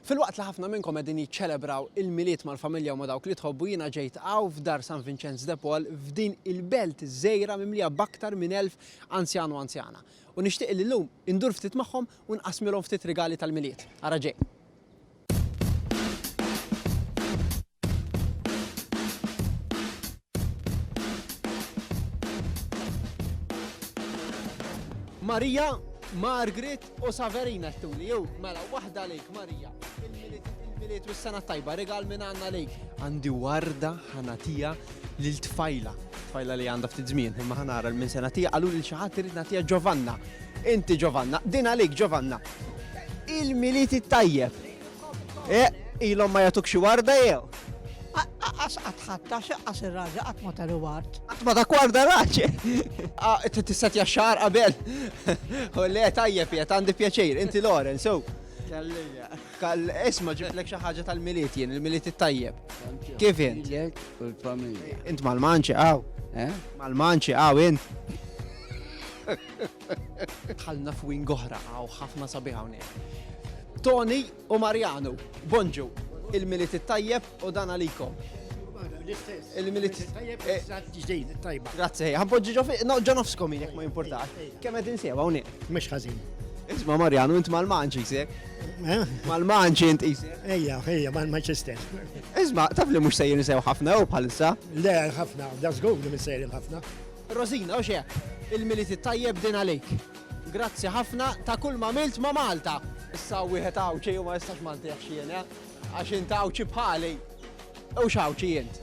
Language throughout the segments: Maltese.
Filwaqt li ħafna minnkom qegħdin jiċċelebraw il-Milied mal-familja u ma' dawk li tħobbu jiena ġejt hawn f'Dar San Vinċenz de Paul f'din il-belt żgħira mimlija b'aktar minn elf anzjan u anzjana. U nixtieq li llum indur ftit magħhom u nqassmilhom ftit rigali tal-Milied. Ara ġej. Marija, Margaret u Saverina t-tuli, jew mela waħda lejk Marija. Il-miliet u s-sena tajba, regal minn għanna lejk. Għandi warda ħanatija lil tfajla. Tfajla li għandha ftit żmien, imma ħanara l-minn sena tija għalu li xi ħadd irid nagħtiha Giovanna. Inti Giovanna, din għalik Giovanna. Il-Milied it-tajjeb. Eh, ilhom ma jagħtuk xi warda jew? Aqqas qatt ħadd għax aqqas ir-raġa qatt ma tari ward. Qatt ma dak warda raġa. Ah, tista' tja xar qabel. U le tajjeb jgħet għandi pjaċir, inti Loren, so. Kallija. Kall isma ġiblek xi ħaġa tal-miliet jien, il-miliet it-tajjeb. Kif int? U l-familja. Int mal-manċi għaw. Eh? Mal-manċi għaw int. Dħalna f'wing oħra għaw ħafna sabiħ hawnhekk. Tony u Mariano, bonġu, il-milit it-tajjeb u dan għalikom. Il-milit tajjeb eh, ġdejn tajba. Grazie, ħanpoġġi ġo fiq, noġġo nofskom jek ma jimportax. Kemm qed insiewa hawnhekk? Mhux ħażin. Isma' Mariano, int mal-manċi jsek. Eh? Mal-manċi int isek. Ejja, ejja, mal-Manchester. Isma' taf li mhux sejjer nisew ħafna jew bħalissa? Le, ħafna, da żgur li minn sejjer ħafna. Rosina, u x'hekk! Il-Milied it-Tajjeb din għalik. Grazzi ħafna ta' kull m'għamilt ma' Malta! Issa wieħed Għawdxi u ma jistax ma ntiehx jien, eh? Għax int Għawdxi bħali. U x'Għawdxi int?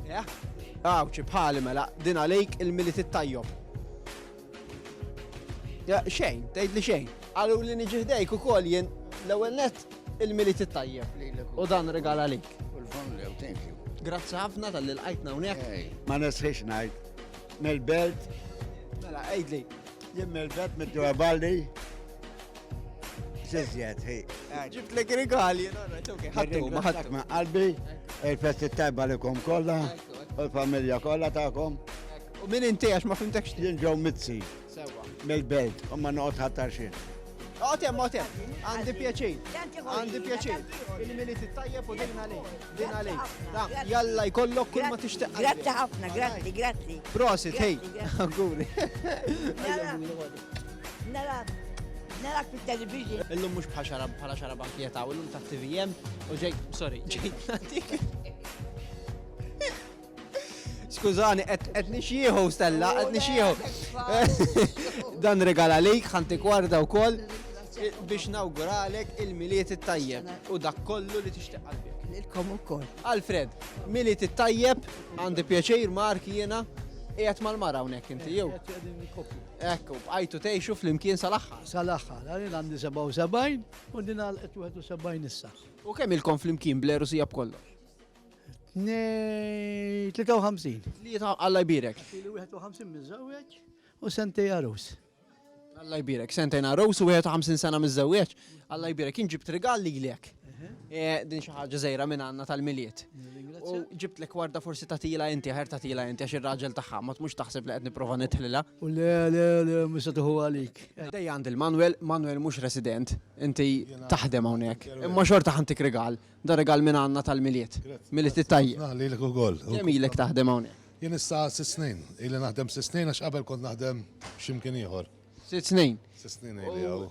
Eh? Għawdxi bħali mela, din għalik il-Milied it-Tajjob. Xejn, tgħidli xejn. Qaluli niġi ħdejk ukoll jien l-ewwel nett il-Milied it-tajjeb lilek u dan rigal għalik. U l-familja, u thank you. Grazzi ħafna tal-li lqajtna hawnhekk. Ej, ma nesħiex ngħid. Mill-belt, Mela, għidli. jien mill-belt mid-dura balli. Xizjet, hi. Ġibt lek rigali, no, right, okay. Ħattu, ma Nirringrazzjak ħattu. minn qalbi, il-festi tajba likom kollha, u l-familja kollha tagħkom. U min inti għax ma fimtekx? Jien ġew mitzi. Sewa. Mill-belt, u ma noqgħod ħattar xejn. Għotem, għotem, għandi pjaċin, għandi pjaċin. Il-minit tajjeb u dina li, dina li. Jalla jkollok kull ma tixtaq. Grazzi ħafna, grazzi, grazzi. Prosit, hej, għuri. Narak, narak fit-television. Illum mux bħaxarab, bħala xarab ankieta, u illum ta' TVM, u ġej, sorry, ġej, Skużani, qed nixjieħu stella, qed nixjieħu. Dan regala lejk ħanti kwarda wkoll biex nawguralek il-miliet it-tajjeb u dak kollu li tixtieq qalbek. Lilkom ukoll. Alfred, miliet it-tajjeb għandi pjaċir Mark jiena qiegħed mal-mara hawnhekk inti jew. Ekku, bqajtu tgħixu flimkien sal-aħħar. Sal-aħħar, għalin għandi 77 u din għal 71 issa. U kemm ilkom flimkien bleru sija b'kollox? Nej, 53. Li ta' Alla jbirek. Ilu 51 mizzawieċ u sentej għarus. Alla jbirek, sentej għarus u 51 sena mizzawieċ. Alla jbirek, jien ġibt rigal li l-ek. Eh, din xi ħaġa żejra minn għandna tal-miliet. U ġibt lek warda forsi ta' tila inti, ħer ta' tila inti għax ir-raġel tagħha ma tmux taħseb li qed nipprova nitħlilha. U le le le mhux tuħu għalik. Dej għand il-Manuel, Manuel mhux resident, inti taħdem hawnhekk. Imma xorta ħantik rigal. Da rigal minn għandna tal-Milied. Milied it-tajjeb. Ħafna lilek ukoll. Kemm ilek taħdem hawnhekk? Jien issa sitt snin. Ili naħdem sitt snin għax qabel kont naħdem xi mkien ieħor. Sitt snin? Sitt snin ili hawn.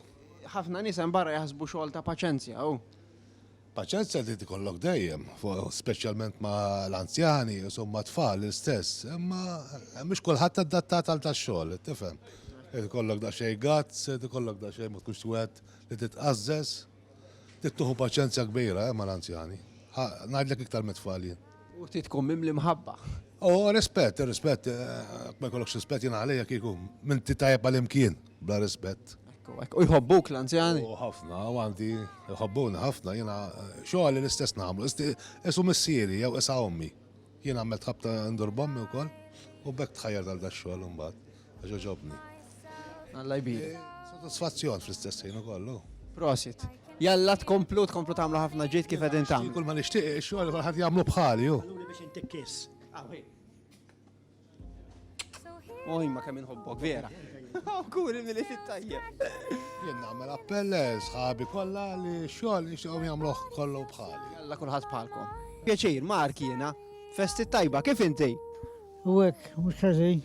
Ħafna nies hemm barra jaħsbu xogħol ta' paċenzja hu. Paċenzja trid ikollok dejjem, speċjalment ma' l-anzjani, insomma tfal l-istess, imma mhux kulħadd adattat għal tax-xogħol, tifhem. Trid ikollok daqsxejn guts, trid ikollok daqsxejn ma tkunx wieħed li titqażżeż. Trid tieħu paċenzja kbira eh, mal-anzjani. Ngħidlek iktar mit-tfal jien. U trid tkun mimli mħabba. U oh, rispett, rispett, eh, ma jkollokx rispett jien għalija kieku, minn ti tajjeb għal-imkien, bla rispett. U jħobbuk l-anzjani? U ħafna, u għandi, jħobbuni ħafna, jena eh, xoħal l-istess namlu, isu missieri, jew isa ommi. Jena għammet ħabta ndur bommi u koll, u bekk tħajjar tal-daxxol un-bat. Ġoġobni. Alla jbir. Sodisfazzjon fl-istess ħin kollu. Prosit. Jalla tkomplu, tkomplu tagħmlu ħafna ġid kif qegħdin tagħmlu. Kull ma nixtieq xogħol ħadd jagħmlu bħali ju. biex intik kiss. Oj, ma kemm inħobbok, vera. Kuri mill fit-tajjeb. Jien nagħmel appell eh, sħabi kollha li xogħol nixtieqhom jagħmluh kollu bħali. Jalla kulħadd bħalkom. Pjaċir, Mark jiena, festi tajba, kif inti? U hekk, mhux ħażin.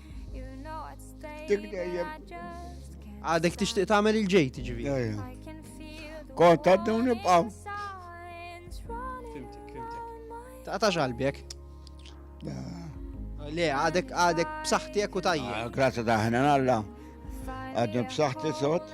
Dik dejjem. Għadek tixtieq tagħmel il-ġej tiġivi. Kont għaddu nibqaw. Fimtik, fimtik. Ta' ta' ġalbjek. Le, għadek għadek b'saħħtek u tajja. Ah, Grazzi daħna għalla. Għadni b'saħħti sot.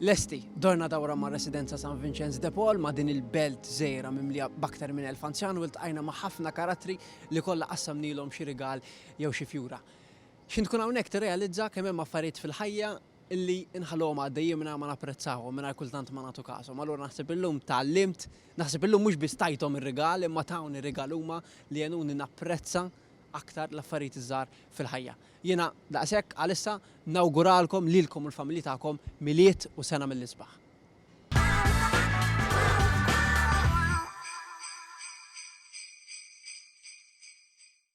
Lesti, dorna dawra mar-Residenza San Vinċenz de Paul ma' din il-belt żgħira mimlija b'aktar minn elf anzjan u ltqajna ma' ħafna karattri li kollha qassamnielhom xi rigal jew xi fjura. X'ħin tkun hawnhekk tirrealizza kemm hemm affarijiet fil-ħajja li nħalluhom għaddejjin mingħajr ma napprezzawhom, mingħajr kultant ma nagħtu kashom. Allura naħseb illum tgħallimt, naħseb illum mhux biss tajthom ir-rigal imma tawni rigal huma li għenuni napprezza aktar l-affarijiet iż-żgħar fil-ħajja. Jiena, daqshekk għalissa, nawguralkom lilkom u l-familji tagħkom Milied u Sena mill-Isbaħ.